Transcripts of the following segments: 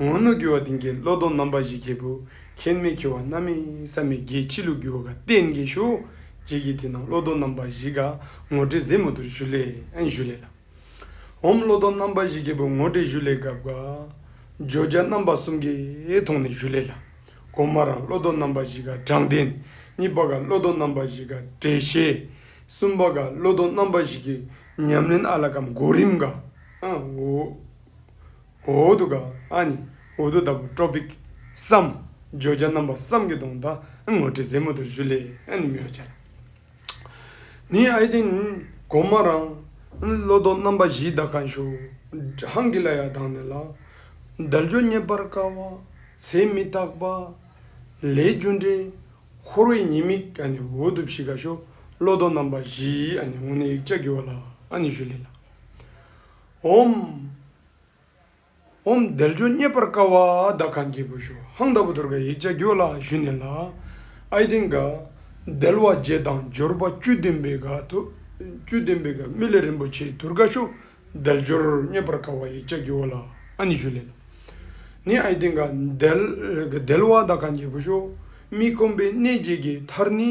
ངོ་ནུ་རྒྱུ་བ་དེང་གི་བློ་སྟོང་རྣམ་པ་བཞི་རྒྱལ་བུ་ཁྱེད་མི་ཁྱེད་བ་རྣམ་མེད་བསམ་མེད་རྒྱལ་ཕྱི་ལུགས་རྒྱུ་བ་དགའ་བསྟན་གྱི་ཞུ་རྗེས་ཀྱི་དེ་ནང་བློ་སྟོང་རྣམ་པ་བཞི་ག་ངོ་སྤྲད་ཟེ་མོ་དུར་བཞུ་ལས་བཞུ་ལས་ལ། འོམ་བློ་སྟོང་རྣམ་པ་བཞི་རྒྱལ་བུ་ངོ་སྤྲད་བཞུ་ལས་གབ་ག་བརྗོ་བརྒྱ་རྣམ་པ་གསུམ་གའི་ཐོང་ནས་བཞུ་ལས་ལ། གོང་མ་རང་བློ་སྟོང་རྣམ་པ་བཞི་ག་དྲང་བདེན་གཉིས་པ་ག་བློ་སྟོང་རྣམ་པ་བཞི་ག་འགྲེལ་བཤད་གསུམ་པ་ག་བློ་སྟོང་རྣམ་པ་བཞི་གའི་ཉམས་ལེན་ཨ་ལ་ཀམ་གོ་རིམ་ག་འོ། འོ་དུ་ག་ཨ་ནི་འོ་དུ་ལྟ་བུ Tropic། སམ། བརྗོད་བྱ་རྣམ་པ་བསམ་གྱི་གདོང་མདའ་ངོ་ཏྲི་ཟེ་མོ་དུར་བཞུ་ལེ་ཨ་ནི་མེའོ་ཅཱ། ནི་ཨའི་ཏི་ནི་གོ་མ་ར། བློ་ལྡོག་རྣམ་པ་བཞིའི་མདའ་གང་ཞུ། ཧང་གི་ལ་ཡ་དང་ནི་ལ། བརྡལ་འཇོ་རྙེད་པར་དཀའ་བ། ཚེ་མི་རྟག་པ། ལས་རྒྱུ་འབྲས། འཁོར་བའི་ཉེས་དམིགས་ཨ་ནི་འོ་དུ་བཞི་ག་ཞོ། བློ་ལྡོག་རྣམ་པ་བཞིའི་ཨ་ནི་ངོ་ནི་ཡིག་བཅད་ཀྱི་བ་ལ་ཨ་ནི་བཞུ་ལེ་ལ། འོམ། འོམ་བདལ་ཅོ་རྙེད་པར་དཀའ་བ་བདག་གང་སྐྱེས་བུ་ཞོ་ཧང་ལྟ་བུ་དོར་བའི་ཡིག་ཆ་རྒྱུད་ལ་བཞུགས་ནས་ལ་ཨའི་ཏིང་ཀ། བདལ་བ་བརྒྱད་དང་སྦྱོར་བ་བཅུ་ལྡན་པའི་ག་དུ་བཅུ་ལྡན་པའི་ག་མི་ལས་རིན་པོ་ཆེའི་དུར་ཀ་ཞོ་བདལ་སྦྱོར་རྙེད་པར་དཀའ་བ་ཡིག་ཆ་རྒྱུད་ལ་ཨ་ནི་བཞུགས་ལས་ལ་ནི་ཨའི་ཏིང་ཀ། བདལ་བ་བདག་གང་སྐྱེས་བུ་ཞོ་རྨིས་སྐོམ་པའི་གནས་བརྒྱད་ཀྱི་མཐར་ནི།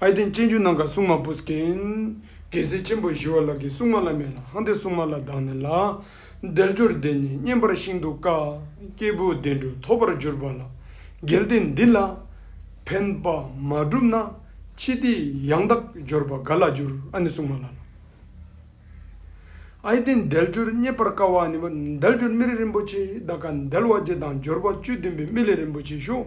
ཨ་ཡེ་ཏན་ཅན་ཆུ་ནང་ག་སྲུང་མ་བུ་སྐན། རྒྱལ་སྲས་ཆེན་པོ་ཞི་བ་ལགས་ཀྱི་སྲུང་མ་ལ་མེ་ལ་ཧང་སྟེ་སྲུང་མ་ལ་བདག་ནི་ལ། དལ་འབྱོར་བདེ་ནི་བསྙེན་པར་ཤིན་ཏུ་དཀའ། སྐྱེས་བུ་བདེ་འགྲོ་ཐོབ་པར་འགྱུར་བ་ལ། རྒྱལ་ཏེ་འདི་ལ་ཕན་པ་མ་བསྒྲུབས་ན། འཆི་ལྟས་ཡང་དག་འབྱོར་པ་ག་ལ་འགྱུར་ཨ་ནི་སྲུང་མ་ལ་ལ། ཨ་ཡེ་ཏན་དལ་འབྱོར་བསྙེན་པར་དཀའ་བ་ནི་བ་དལ་འབྱོར་སྨི་རི་རིན་པོ་ཆེ་ད་གའ་དལ་བ་རྗེ་དང་འབྱོར་བ་བཅུད་ལྡན་པའི་སྨི་ལེ་རིན་པོ་ཆེ་ཤོག་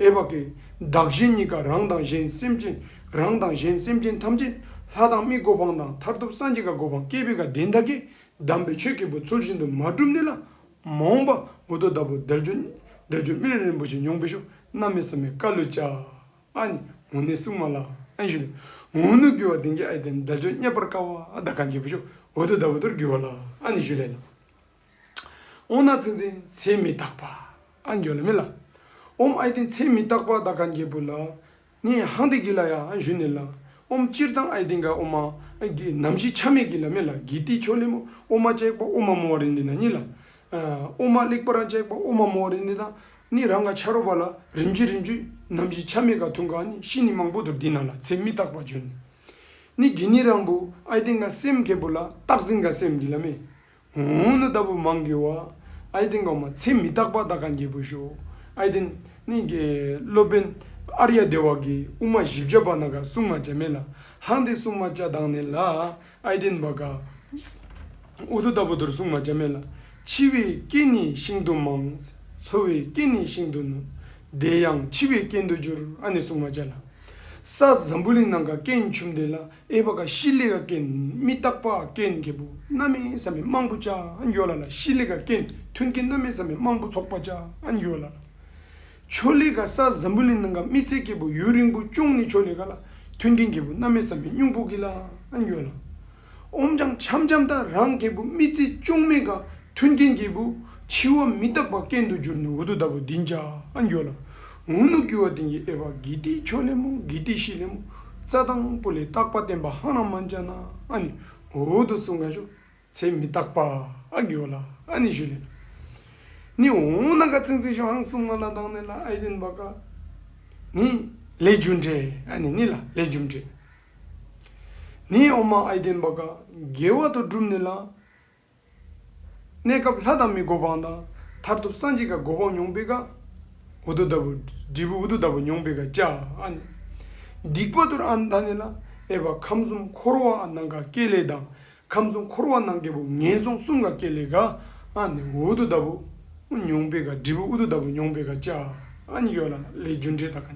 ཨེ་བ་ཀའི། བདག་གཞན་གཉིས་ཀ་རང་དང་གཞན་སེམས་ཅན་རང་དང་གཞན་སེམས་ཅན་ཐམས་ཅད་ལྷ་དང་མིའི་གོ་འཕང་དང་མཐར་ཐུག་སངས་རྒྱས་ཀ་གོ་འཕང་སྐྱེས་བུ་ཀ་བདེན་ད་ཀས་གདམས་པའི་ཆོས་སྐྱེས་བུ་ཚུལ་བཞིན་དུ་མ་བསྒྲུབས་ནས་ལ་མ་འོངས་པ་འུར་རྡོ་ལྟ་བུ་དལ་འབྱོར། དལ་འབྱོར་སྨིན་རེ་རིན་པོ་ཆེ་མྱོང་བེ་ཤོ་རྣམ་མེད་བསམ་མེད་བཀའ་བློས་བཅའ། ཨ་ནི་ངོ་ནའི་སྲུང་མ་ལ་ཨེ་ཞུ་ལ། ངོ་ནུ་གུ་བ་བདེན་གྱི་ཨེ་བདེན་དལ་འབྱོར་རྙེད་པར་དཀའ་བ་ཨ་ད་ག་འགྱེད་བུ་ཤོ་འུར་རྡོ་ལྟ་བུ་དོར་གུ་བ་ལ་ཨ་ནི་ཞུ་ལེ་ལ། ཨོ་ན་ཙི་ཙི་ཚེ་མི་རྟག་པ། ཨ་འགྱོ་ལ་མི་ལ། ཨོམ་ཨེ་ཏིན་ཚེ་མི་རྟག་པ་ད་ག་འགྱེད་པོ་ལ། ནི་ཧང་ཏི་གི་ལ་ཡ་ཨན་ཞུ་ནི་ལ། ཨོམ་སྤྱིར་བཏང་ཨེ་ཏིན་ག་ཨོ་མ། གི་ནམ་ཞིག་ཆ་མེད་གི་ལ་མི་ལ་གི་ཏི་ཆོ་ལི་མོ་ཨོ་མ་ཅེག་པ་ཨོ་མ་མོ་རི་ནི་ན་ནི་ལ། ཨོ་མ་ལེགས་པ་རང་ཅེག་པ་ཨོ་མ་མོ་རི་ནི་ད་ནི་རང་ག་ཆ་རོ་བ་ལ་རིམ་གྱིས་རིམ་གྱིས་ནམ་ཞིག་ཆ་མེད་ག་ཐུང་ག་ནི་ཤི་ནི་མང་པོ་དུ་འདི་ན་ལ་ཚེ་མི་རྟག་པ་འཇོན་ནི། ནི་གི་ནི་རང་བུ་ཨེ་ཏིན་ག་སེམས་མཁས་པོ་ལ་རྟག་འཛིན་ག་སེམས་གི་ལ་མི། ངོ་བོ་ནི་ལྟ་བུ་མང་གི་བ། ཨའི་ཏིན་གང་མ་ཚད་མི་རྟག་པ་ད་ག་འགྱེད་པོ་ཞོག་ཨའི་ཏིན། ནི་གེ། སློབ་དཔོན། ཨ་རི་ཡ་སྡེ་བ་གིས་དབུ་མ་བཞི་བརྒྱ་པ་ན་ག་སྲུང་མ་བྲལ་མེད་ལ། ཧང་སྟེ་སྲུང་མ་བཅའ་བཏང་ནས་ལ། ཨའི་ཏིན་བ་ག། འུ་དུ་ལྟ་བུ་དུར་སྲུང་མ་བཅའ་མེད་ལ། འཆི་བའི་རྐྱེན་ནི་ཤིན་ཏུ་མང། འཚོ་བའི་རྐྱེན་ནི་ཤིན་ཏུ་ནོ། བདེ་ཡང་འཆི་བའི་རྐྱེན་དུ་འགྱུར་ཨ་ནི་སྲུང་མ་བཅའ་ལ། ས་ཛམྦུ་ལིང་ནང་ག་སྐད་འཆུམས་ཏེ་ལ། ཨེ་བ་ཀ་ཤི་ལི་ཀ་ཀན་མི་རྟག་པ་ཀན་རྒྱལ་པོ་མནའ་མའི་བསམ་པའི་རྨང་པོ་ཅཱ་འགྱོད་ལ་ལ་ཤི་ལི་ཀ་ཀན་མཐུན་རྐྱེན་མནའ་མའི་བསམ་པའི་རྨང་པོ་ཚོགས་པ་ཅཱ་འགྱོད་ལ་ལ། ཆོ་ལི་ཀ་ས་ཛམ་བུ་ལི་ནང་ཀ་མི་ཚེ་སྐྱེས་བུ་ཡུན་རིང་པོ་སྐྱོང་ནི་ཆོ་ལི་ཀ་ལ་མཐུན་རྐྱེན་རྒྱལ་པོ་མནའ་མའི་བསམ་པའི་སྙུང་པོ་ཀི་ལ་འགྱོད་ལ། ཨོམ་ཀྱང་འཆམ་འཆམ་ད་རང་རྒྱལ་པོ་མི་ཚེ་སྐྱོང་མེད་ཀ་མཐུན་རྐྱེན་རྒྱལ་པོ་འཆི་བ་མི་རྟག་པ་ཀན་དུ་འགྱུར་ནི་འུ་དུ་ད་བུ་དིན་ཅཱ་འགྱོད་ལ། ངུ་ལུ་རྒྱུ་བ་དེ་ཉིད་ཨེ་བ་གི་ཏི་མཆོག་ལེན་མོ་གི་ཏི་ཤི་ལེན་མོ་རྩ་དང་པོ་ལས་རྟག་པ་བསྟན་པ་ཧ་ན་མ་འཇ་ན་ཨ་ནི་འོ་དུ་སུ་འགའ་ཞོ་ཚེ་མི་རྟག་པ་ཨ་གི་བ་ལ་ཨ་ནི་ཞུ་ལེན་ནི་འོ་ན་ག་ཚིག་འཛིན་ཞོ་ཧང་སུ་མ་ལ་དང་ནི་ལ་ཨ་ཡི་ལེན་བ་ག་ནི་ལས་རྒྱུ་འབྲས་ཨ་ནི་ནི་ལ་ལས་རྒྱུ་འབྲས་ནི་འོ་མ་ཨ་ཡི་ལྡན་བ་ག་དགེ་བ་དོ་སྒྲུབ་ནི་ལ་གནས་སྐབས་ལྷ་དང་མི་མགོ་འཕང་དང། མཐར་ཐུག་སངས་རྒྱས་ཀ་མགོ་འཕང་མྱོང་པའི་ཀ། འུ་དུ་ལྟ་བུ། འབྲས་བུ་འུ་དུ་ལྟ་བུ་མྱོང་པའི་ཀ་ཅཱ་ཨ་ནི། སྡིག་པ་དུར་ཨ་མདའ་ནི་ལ་ཨེ་བ་ཁམས་གསུམ་འཁོར་བ་ཨ་ནང་ཀ་སྐྱེ་ལས་དང་ཁམས་གསུམ་འཁོར་བ་ནང་སྐྱེ་བོ་ངན་སོང་གསུམ་ཀ་སྐྱེ་ལས་ཀ་ཨ་ནི་འུ་དུ་ལྟ་བུ། མྱོང་པའི་ཀ་འབྲས་བུ་འུ་དུ་ལྟ་བུ་མྱོང་པའི་ཀ་ཅཱ་ཨ་ནི་ཡོད་ལ་ལས་རྒྱུ་འབྲས་དག་ག་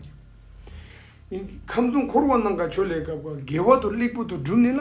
འགྱུར། ཁམས་གསུམ་འཁོར་བ་ནང་ཀ་ཆོས་ལས་སྐབས་ཀ་དགེ་བ་དུར་གླེགས་བུ་དུར་སྒྲུབ་ནི་ལ་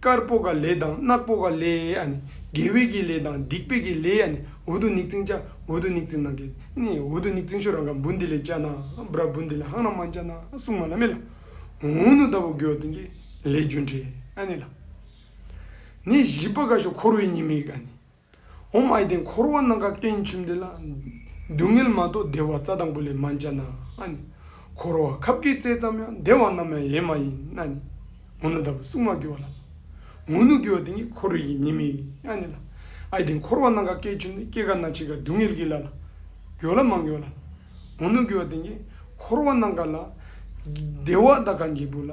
དཀར་པོ་ག་ལེ་དང་གནག་པོ་ག་ལེ་ཨ་ནི་དགེ་བེད་ཀྱི་ལེ་དང་སྡིག་པེད་ཀྱི་ལེ་ཨ་ནི་འོ་དུ་ནིག་ཙིང་ཅག་འོ་དུ་ནིག་ཙིང་ནང་གི་ནི་འོ་དུ་ནིག་ཙིང་ཤོ་རང་ག་འབུ་འདི་ལེ་ཅག་ན་བར་འབུ་འདི་ལེ་ཧང་ན་མ་ཅག་ན་སུང་མ་ན་མེ་ལ་འོ་ནུ་ད་བུ་གུ་ཏིང་གི་ལེ་རྒྱུ་འདྲེ་ཨ་ནི་ལ་ནི་བཞི་པ་ག་ཤོ་འཁོར་བའི་ཉི་མིག་ཨ་ནི་ཧོ་མ་ཡི་དེ་འཁོར་བ་སྣང་ག་སྐྱེ་འཆི་འདི་ལ། སྡུག་བསྔལ་མ་གཏོགས་བདེ་བ་རྩ་དང་པོ་ལས་མ་འཇལ་ན་ནི། འཁོར་བ་ཁ་བརྒྱའི་རྩའི་ཙམ་ཡང་བདེ་བ་རྣམས་ཡང་ཡེ་མ་ཡིན་ན་ནི། ངོ་ནུ་ད་བུ་གསུང་མ་བསྐྱུར་བ་ལ། ངོ་ནུ་བསྐྱུར་བ་དེ་ཉིད་འཁོར་རིགས་ཀྱི་ཉི་མ་ཡིན་ན་ནི་ལ། ཨ་ཡི་དེ་འཁོར་བ་སྣང་ག་སྐྱེ་འཆི་འདི་སྐྱེ་རྒ་ན་འཆི་ཀ་སྡུག་བསྔལ་གྱི་ལ་ལ། འགྱོད་ལ་མ་འགྱོད་ལ། ངོ་ནུ་འགྱོད་བ་དེ་ཉིད་འཁོར་བ་སྣང་ག་ལ། བདེ་བ་ད་ག་འཇིག་པོ་ལ།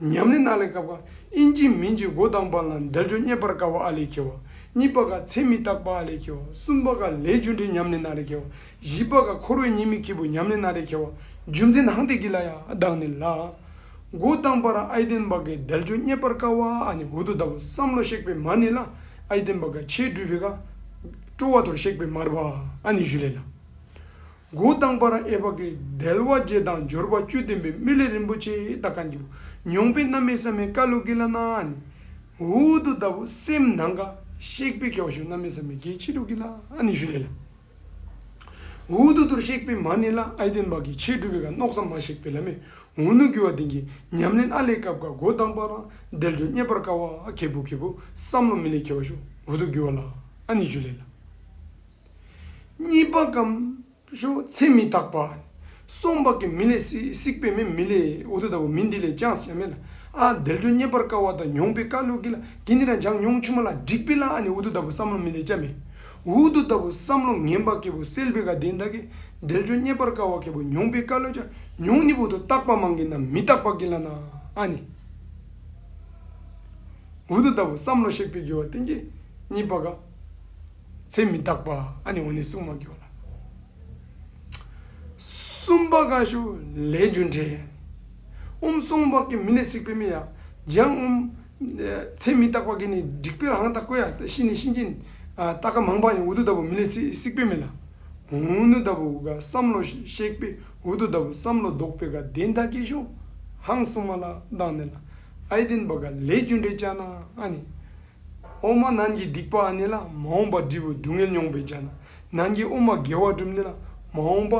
ཉམས་ལེན་ནཱ་ལེནྜ་ཀ་པཱ་ཨིན་ཅིན་མིན་གྱི་སྒོ་དང་བར་ལ་འདལ་འགྲོས་རྙེད་པར་དཀའ་བ་ཨ་ལས་ཁྱེར་བ། གཉིས་པ་ཀ་ཚད་མི་རྟག་པ་ཨ་ལས་ཁྱེར་བ། གསུམ་པ་ཀ་ལས་རྒྱུ་འབྲས་ཉམས་ལེན་ནཱ་ལས་ཁྱེར་བ། བཞི་པ་ཀ་འཁོར་བའི་གཉིས་མེད་སྐྱེས་བུ་ཉམས་ལེན་ནཱ་ལས་ཁྱེར་བ། རྒྱུ་མཚན་ཧང་ཏེ་ཀི་ལ་ཡང་བདག་ནི་ལ། སྒོ་དང་བར་ཨ་ཨི་ཏན་པ་ཀའི་འདལ་འགྲོས་རྙེད་པར་དཀའ་བ་ཨ་ནི་འུ་དུ་ད་བུ་བསམ་བློ་གཤེགས་པའི་མར་ནི་ལ་ཨ་ཨི་ཏན་པ་ཀ་ཁྱེད་སྤྲུལ་པའི་ཀ། སྤྲོ་བ་དོར་གཤེགས་པའི་མར་བ་ཨ་ནི་བཞུ་ལས་ལ། མགོ་བཏང་བར་ཨེ་བྷ་གའི་སྦལ་བ་བརྒྱད་དང་འབྱོར་པ་བཅུ་ལྡན་པའི་མཎྜལ་རིན་པོ་ཆེ་དང་གང་གིའུ་མྱོང་པའི་རྣམ་སྨིན་བསམ་མེད་ཀཱི་ལོ་ཀཱི་ལ་ནཱ་ནི། འུ་དུ་ལྟ་བུ་སེམས་ནང་ཀ་གཤེགས་པའི་ཀཱི་བ་ཞུ་རྣམ་སྨིན་བསམ་མེད་བརྒྱད་ཕྱི་དྲོ་ཀཱི་ལ་ནཱི་ཞུ་ལེ་ལ། འུ་དུ་དུར་གཤེགས་པའི་མ་ནི་ལ་ཨཱི་ལྡན་བྃ་གི་ཕྱེད་སྒྲུབ་པའི་ཀ་ནོག་བསམ་མ་གཤེགས་པའི་ལ་མེ་འུ་ནུ་རྒྱུ་བ་ལྡན་གྱི་ཉམས་ལེན་ཨཱ་ལས་སྐབས་ཀ་མགོ་བཏང་བར་བདལ་འགྲོས་རྙེད་པར་དཀའ་བ་ཀཱི་བུ་ཀཱི་བུ་བསམ་བློ་མི་ལས་ཀྱི་བ་ཞུ་འུ་དུ་རྒྱུ་བ་ལ་ཨཱ་ནཱི་ཞུ་ལེ་ལ། གཉིས་པ་གམ། ཚེ་མི་རྟག་པ། གསུམ་པ་གི་མི་ལས་སྲིད་པའི་མི་མི་ལས་འོ་དོད་ལྟ་བུ་མི་འདི་ལས་ཅང་ཟེར་མེད་ལ་ཨ་དལ་འགྲོས་རྙེད་པར་དཀའ་བ་དང་མྱོང་པའི་དཀའ་ལུགས་ཀྱི་ལ་དེ་ནི་རང་བྱང་མྱོང་ཆུང་མ་ལ་འགྲིག་པས་ལ་ཨ་ནི་འོ་དོད་ལྟ་བུ་བསམ་བློ་མི་ལས་ཅང་མི་འོ་དོད་ལྟ་བུ་བསམ་བློ་ངན་པ་སྐྱེ་བོ་སེལ་བའི་དགའ་ལྡན་དག་གིས་དལ་འགྲོས་རྙེད་པར་དཀའ་བ་སྐྱེ་བོ་མྱོང་པའི་དཀའ་ལུགས་ཅང་མྱོང་ནི་འོ་དོད་རྟག་པ་མང་གི་རྣམས་མི་རྟག་པ་གི་ལ་ན་ཨ་ནི་འོ་དོད་ལྟ་བུ་བསམ་བློ་ཤེས་པའི་དགེ་བ་བསྟེན་གྱི་གཉིས་པ་ག། ཚེ་མི་རྟག་པ། ཨ་ནི་འོ་ནི་སྲུང་མ་སྐྱོང་ལ། གསུམ་པ་བཀའ་བཞུ་ལས་རྒྱུ་འབྲས། དབུམ་སྲུང་དམག་གི་མི་ནི་སྲིད་པའི་མི། འཇང་དབུམ། ཚེ་མི་རྟག་པ་གི་ནི་འགྲིག་པའི་ཧང་ཐག་ཀོ་ཡ་ཤི་ནི་ཤིན་ཅིན། རྟ་ཁ་མང་བ་ཡི་འུ་དུ་ལྟ་བུ་མི་ནི་སྲིད་པའི་མི་ལ། འུ་ནུ་ལྟ་བུ་ག་བསམ་བློ་གཤེགས་པའི་འུ་དུ་ལྟ་བུ་བསམ་བློ་ལྡོག་པའི་ག་བདེན་མཐའ་སྐྱེ་ཤོག། ཧང་སྲུང་མ་ལ་སྡང་ནི་ལ། ཨའི་བདེན་པ་ག་ལས་རྒྱུ་འབྲས་བཅའ་ན་ཨ་ནི། འོག་མ་ནང་གི་སྡིག་པ་ནི་ལ་མ་འོངས་པ་འབྲས་བུ་སྡུག་བསྔལ་མྱོང་པའི་ཆ་ན་ནང་གི་དབུ་མ་དགེ་བ་བསྒྲུབས་ནི་ལ་མ་འོངས་པ་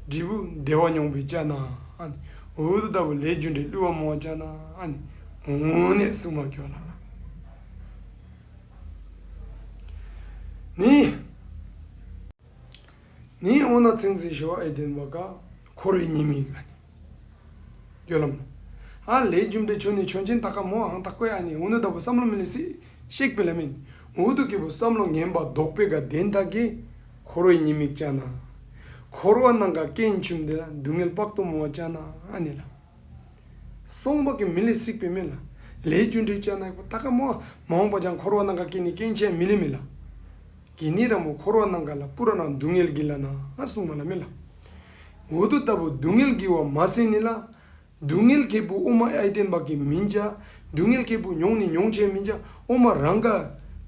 འབྲས་བུ་བདེ་བ་མྱོང་པའི་ཆ་ན་ནི། འོད་ལྟ་བུ་ལས་རྒྱུ་འབྲས་བསླུ་བ་མོང་བ་ཆ་ན་ནི། འོངས་ནས་གཟུགས་མ་འཁྱོལ་ལ། ནི། ནི་འོ་ན་ཚིག་མཛོད་ཞི་བ་ཨེ་བདེན་པ་ག། འཁོར་བའི་ཉེས་དམིགས་ལ་ནི། སྐྱོད་ལམ། ཨ་ལས་རྒྱུ་འབྲས་ཆོས་ནི་ཆོས་ཅན་ད་ཀ་མོ་ཨང་ད་ཀོས་ཨ་ནི་འུ་ནུ་ད་བུ་བསམ་བློ་མི་ལི་སི་གཤེགས་པའི་ལ་མིན། འུ་ཏུ་ཀི་བུ་བསམ་བློ་ངན་པ་རྡོག་པའི་དགའ་ལྡན་དག་གིས་འཁོར་བའི་ཉེས་དམིགས་བཅག་ན། འཁོར་བ་ནང་ག་ཀན་མཆུ་འདི་ལ་སྡུག་བསྔལ་དཔག་ཏུ་མོ་བ་བཅག་ན་ཨ་ནི་ལ། སོང་པ་ཀི་མི་ལི་སིག་པའི་མེ་ལ་ལས་རྒྱུ་འབྲས་བཅག་ན་ཀོ་ད་ཀ་མོ་ཨ་མ་འོངས་པ་ཅང་འཁོར་བ་ནང་ག་ཀན་ནི་སྐྱེ་མཆེད་མི་ལི་མི་ལ། གི་ནི་ར་མོ་འཁོར་བ་ནང་ག་ལ་པུ་ར་རང་སྡུག་བསྔལ་གི་ལ་ན་ཨ་སྲུང་མ་ལ་མི་ལ། འོ་དོ་ལྟ་བུ་སྡུག་བསྔལ་གྱི་བ་མ་སྲིན་ནི་ལ། སྡུག་བསྔལ་གྱི་བུ་དབུ་མ་ཨའི་བདེན་པ་གིས་མི་འཇའ། སྡུག་བསྔལ་གྱི་བུ་མྱོང་ནི་མྱོང་བྱས་མི་འཇའ་དབུ་མ་རང་དགའ།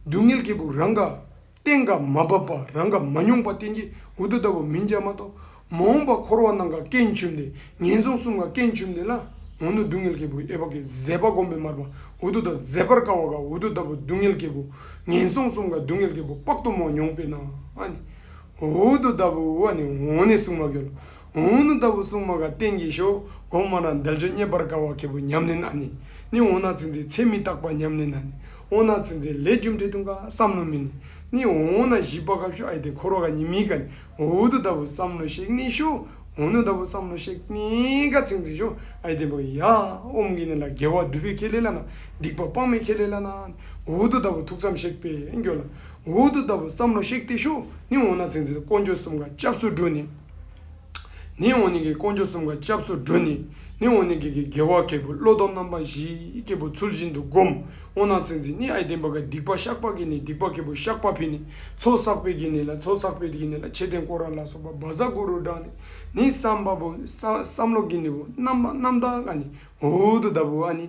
སྡུག་བསྔལ་གྱི་བུ་རང་དགའ། གཏན་འགག་མ་བབས་པ་རང་དགའ་མ་མྱོང་པ་རྟེན་གྱི་འོ་དོ་ལྟ་བུ་མི་འཇའ་མ་གཏོགས་མ་འོངས་པ་འཁོར་བ་རྣམས་ག་གེ་འཆུམས་ཏེ་ངན་སོང་གསུམ་ག་གེ་འཆུམས་ཏེ་ལ། འོ་ནོ་སྡུག་བསྔལ་གྱི་བུ་ཨེ་བ་གི་ཟད་པ་བསྒོམས་པས་མར་པ་འོ་དོ་དང་ཟད་པར་དཀའ་བ་ག་འོ་དོ་ལྟ་བུ་སྡུག་བསྔལ་གྱི་བུ་ངན་སོང་གསུམ་ག་སྡུག་བསྔལ་གྱི་བུ་དཔག་ཏུ་མ་མྱོང་པས་ན། འུ་དུ་ལྟ་བུ་འུ་བ་ནི་འུ་ནི་སྲུང་མ་དགེ། འུ་ནུ་ལྟ་བུ་སྲུང་མ་ག་སྟེང་གི་ཤོ་གོང་མ་ན་འདལ་ཆོས་རྙེད་པར་དཀའ་བ་ཁེ་བུ་ཉམས་ནི་ན་ནི་ནི་འུ་ན་ཚིག་འཛིན་ཚེ་མི་རྟག་པ་ཉམས་ནི་ན་ནི་འུ་ན་ཚིག་འཛིན་ལས་རྒྱུ་འབྲས་དུང་ག་བསམ་ནུ་མི་ནི་ནི་འུ་ན་བཞི་པ་ག་ཤོ་ཨེ་དེ་འཁོར་བ་ག་ཉི་མི་ག་ནི་འུ་དུ་ལྟ་བུ་བསམ་ནུ་ཤེག་ནི་ཤོ་འུ་ནུ་ལྟ་བུ་བསམ་ནུ་ཤེག་ནི་ག་ཚིག་འཛིན་ཤོ་ཨེ་དེ་བ་ཡ་ཨོམ་གི་ནི་ལ་དགེ་བ་སྒྲུབ་པའི་ཁས་ལེ་ལ་ན་སྡིག་པ་སྤང་མེད་ཁས་ལེ་ལ་ན་འུ་དུ་ལྟ་བུ་ཐུགས་བསམ་ཤེག་པས་འགྱོད་ལ་འོག་ཏུ་ལྟ་བུ་བསམ་བློ་གཤེགས་ཏེ་ཤོག་ནི་འོ་ན་ཚིག་མཛོད་དཀོན་མཆོག་གསུམ་ཀ་སྐྱབས་སུ་འགྲོ་ནི། ནི་འོ་ནི་གིས་དཀོན་མཆོག་གསུམ་ཀ་སྐྱབས་སུ་འགྲོ་ནི། ནི་འོ་ནི་གིས་གིས་དགེ་བ་བགེགས་བུ་བློ་སྟོབས་རྣམ་པ་བཞིའི་སྐྱེས་བུ་ཚུལ་བཞིན་དུ་བསྒོམ། འོ་ན་ཚིག་མཛོད་ནི་ཨའི་བདེན་པ་ག་སྡིག་པ་བཤགས་པ་གིས་ནི་སྡིག་པ་བགེགས་བུ་བཤགས་པ་བི་ནི་ཚོགས་བསགས་པས་གིས་ནི་ལ་ཚོགས་བསགས་པས་གིས་ནི་ལ་ཆད་དོན་ཀོ་ར་ལ་སོགས་པ་བ་ཟ་གུ་རུ་བསྒྲགས་ནས་ནི་བསམ་པ་བོ་བསམ་བསམ་བློ་གིས་ནི་བོ་རྣམ་པ་རྣམ་དག་ག་ནི་འོག་ཏུ་ལྟ་བུ་ཨ་ནི་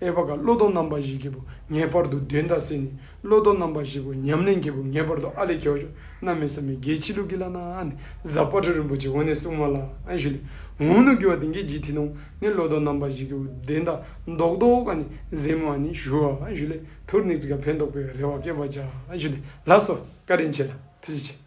ཨེ་བྷ་ག་བློ་གཏོང་རྣམ་པ་བཞི་གི་བུ་ངེས་པར་དུ་བདེན་དང་སྲིད་ནི་བློ་གཏོང་རྣམ་པ་བཞི་པོ་ཉམས་ལེན་གྱི་བུ་ངེས་པར་དུ་ཨ་ལས་ཀྱོ་ཞོ་ན་མི་བསམ་མི་དགེའི་ཕྱི་ལུགས་ཀྱི་ལ་ན་ཨ་ནི་གཟའ་པ་ཏྲ་རིན་པོ་ཆེ་འོ་ནས་གསུངས་མ་ལ་ཨན་ཞུ་ལས་ངོ་ནུབ་གྱུར་བ་དེང་གི་ཇི་ཐི་ནོང་ནི་བློ་གཏོང་རྣམ་པ་བཞི་གི་བུ་བདེན་དང་མདོག་མདོག་ཨ་ནི་གཟེ་མོ་ཨ་ནི་ཞུ་ཨ་ཨན་ཞུ་ལས་ཐུར་ནེག་ཙི་ཀ་ཕན་འདོགས་པའི་རེ་བ་སྐལ་པ་བྱ་ཨན་ཞུ་ལས་ལ་སོགས་བཀའ་དྲིན་ཆེ་ལ་ཐུགས་རྗེ་ཆེ།